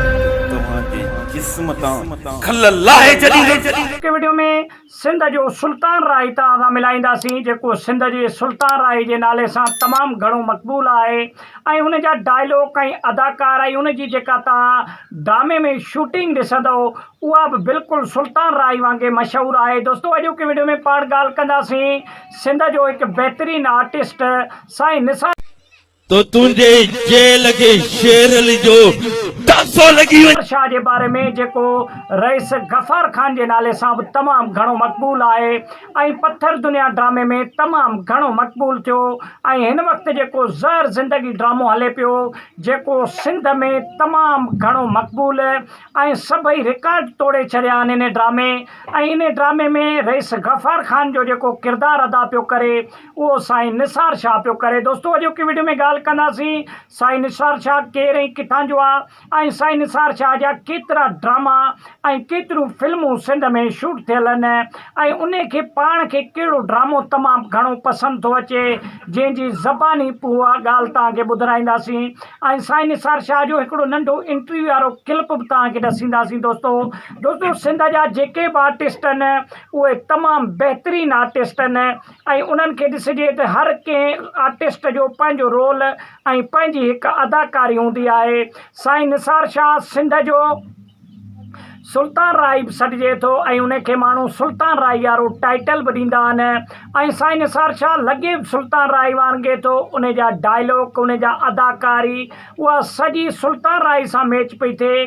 توهان جي جسم تان کل لاهي ڇڏيندس. اڳتي وڊيو ۾ سنڌ جو سلطان راهي توهان سان ملائينداسين جيڪو سنڌ جي سلطان راهي جي نالي سان تمام گهڻو مقبول آهي ۽ ان جا ڊائيلوڪ ۽ اداڪار ۽ ان جي جيڪا توهان ڊرامي ۾ شوٽنگ ڏسندؤ اها به بلڪل سلطان راهي وانگي مشهور آهي دوستو اڄوڪي وڊيو ۾ پاڻ ڳالهه ڪنداسين سنڌ جو هڪ بهترين آرٽسٽ سائين نثار تو تنهنجي جيل کي شيرل جو ڊاسو لڳي وڃي. امر شاهه جي باري ۾ جيڪو رئيس غفار خان جي نالي سان به تمام گهڻو مقبول آهي ۽ پٿر دنيا ڊرامي ۾ تمام گهڻو مقبول ٿيو ۽ هن وقت جيڪو زهر زندگي ڊرامو هلي پيو جيڪو سنڌ ۾ تمام گهڻو مقبول ۽ سڀئي رڪارڊ ٽوڙي ڇڏيا آهن انهي ڊرامي ۽ انهي ڊرامي ۾ رئيس غفار خان جو جيڪو ڪردار ادا پيو ڪري اهو سائين نثار شاهه پيو ڪري دوستو اڄوڪي وڊيو ۾ ڳالهه ڪنداسين سائين نثار شاهه ڪير ۽ ڪٿان جو آ ۽ سائين نثار شاهه جا ڪيترا ڊراما ۽ ڪيتريون فلمون سنڌ ۾ شوٽ ٿيل ان ۽ ان کي پاڻ کي ڪهڙو ڊرامو تمام گهڻو پسند ٿو اچي جنهن جي زباني اها ڳالهه توهان کي ٻڌرائينداسين ۽ سائين نثار شاهه جو هڪڙو ننڍو انٽروي وارو ڪلپ به توهان کي ڏسينداسين دوستو دوستو سنڌ جا جيڪي به آرٽسٽ ان اهي تمام بهترين آرٽسٽ ان ۽ انهن کي ڏسجي ته هر ڪنهن آرٽسٽ جو پنهنجو رول ۽ پنهنجي هڪ اداڪاري هوندي آهي سائين نثار شاهه سنڌ جو سلطان رائي به سڏجي ٿو ۽ ان کي ماڻهو سلطان رائي وارو ٽائيٽل به ڏيندا آهن ۽ سائين نثار شاهه لڳي به سلطان رائي وانگي ٿو ان جا ڊائلاگ ان جا اداڪاري اها سڄي سلطان راء سان ميچ پئي ٿئي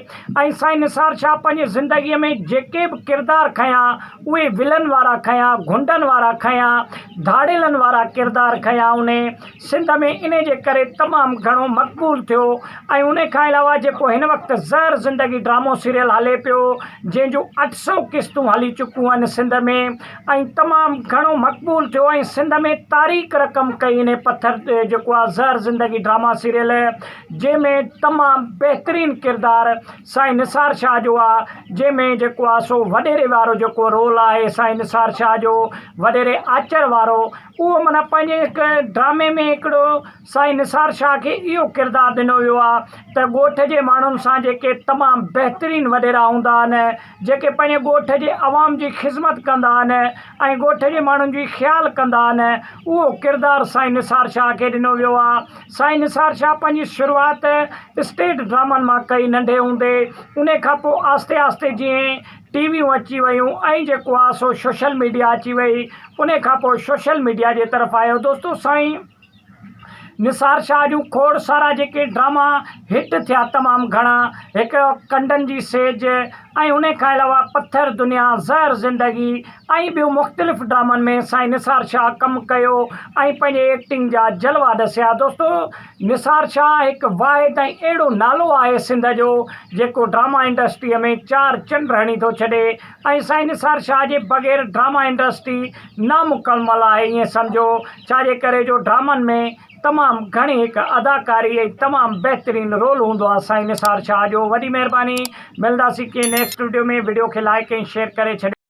۽ سائين نثار شاهه پنهنجي زندگيء ۾ جيڪي به ڪردار کنيا اهي ولن وارا کنيا، غنڊن وارا کنيا، ڌاڙيلن وارا ڪردار کنيا هن سنڌ ۾ انهي جي ڪري تمام گهڻو مقبول ٿيو ۽ انهي کان علاوه جيڪو هن وقت زهر زندگي ڊرامو سيريل هلي پيو جنهن جون اٺ سئو قسطون هلي چڪيون آهن سنڌ ۾ ۽ تمام گهڻو مقبول ٿيو ۽ سنڌ ۾ تاريخ رقم ڪئي انهي پٿر تي جيڪو آ زهر زندگي ڊراما سيريل جنهن ۾ تمام بهترين ڪردار سائين نثار شاهه جو آ جنهن ۾ جيڪو آ سو وڏيري وارو جيڪو رول آهي سائين نثار شاهه جو وڏيري آچر وارو اهو معنيٰ پنهنجي هڪ ڊرامي ۾ هڪڙو سائين نثار شاهه کي اهو ڪردار ڏنو ويو آهي ته ڳوٺ جي ماڻهن سان جيڪي تمام بهترين وڏيرا هوندا آهن جيڪي پنهنجي ڳوٺ جي عوام جي خدمت ڪندا آهن ۽ ڳوٺ جي ماڻهن جي خيال ڪندا آهن اهو ڪردار سائين نثار شاهه کي ڏنو ويو آهي سائين نثار شاهه پنهنجي شروعات اسٽيج ڊرامن مان ڪئي ننڍي هوندي ان کان پوء آهستي آهستي جيئن ٽي ويون اچي ويون ۽ جيڪو آهي سو شوشل ميڊيا اچي وئي ان کان پوء شوشل ميڊيا جي طرف آيو دوستو سائين نثار شاهه جون کوڙ سارا جيڪي ڊراما هٽ ٿيا تمام گهڻا هڪ ڪنڊن جي سيج ۽ انهي کان علاوه پٿر دنيا زهر زندگي ۽ ٻيون مختلف ڊرامن ۾ سائين نثار شاهه ڪم ڪيو ۽ پنهنجي ايڪٽنگ جا جلوا ڏسيا دوستو نثار شاهه هڪ واحد ۽ اهڙو نالو آهي سنڌ جو جيڪو ڊراما انڊسٽري ۾ چار چنڊ هڻي ٿو ڇڏي ۽ سائين نثار شاهه جي بغير ڊراما انڊسٽري نامڪمل آهي ايئن سمجهو ڇاجي ڪري جو ڊرامن ۾ تمام گهڻي هڪ اداڪاري ۽ تمام بهترين رول هوندو آ سائين نثار شاهه جو وڏي مهرباني ملداسين ڪنهن نيڪسٽ وڊيو ۾ وڊيو کي لائڪ ۽ شيئر ڪري ڇڏيو.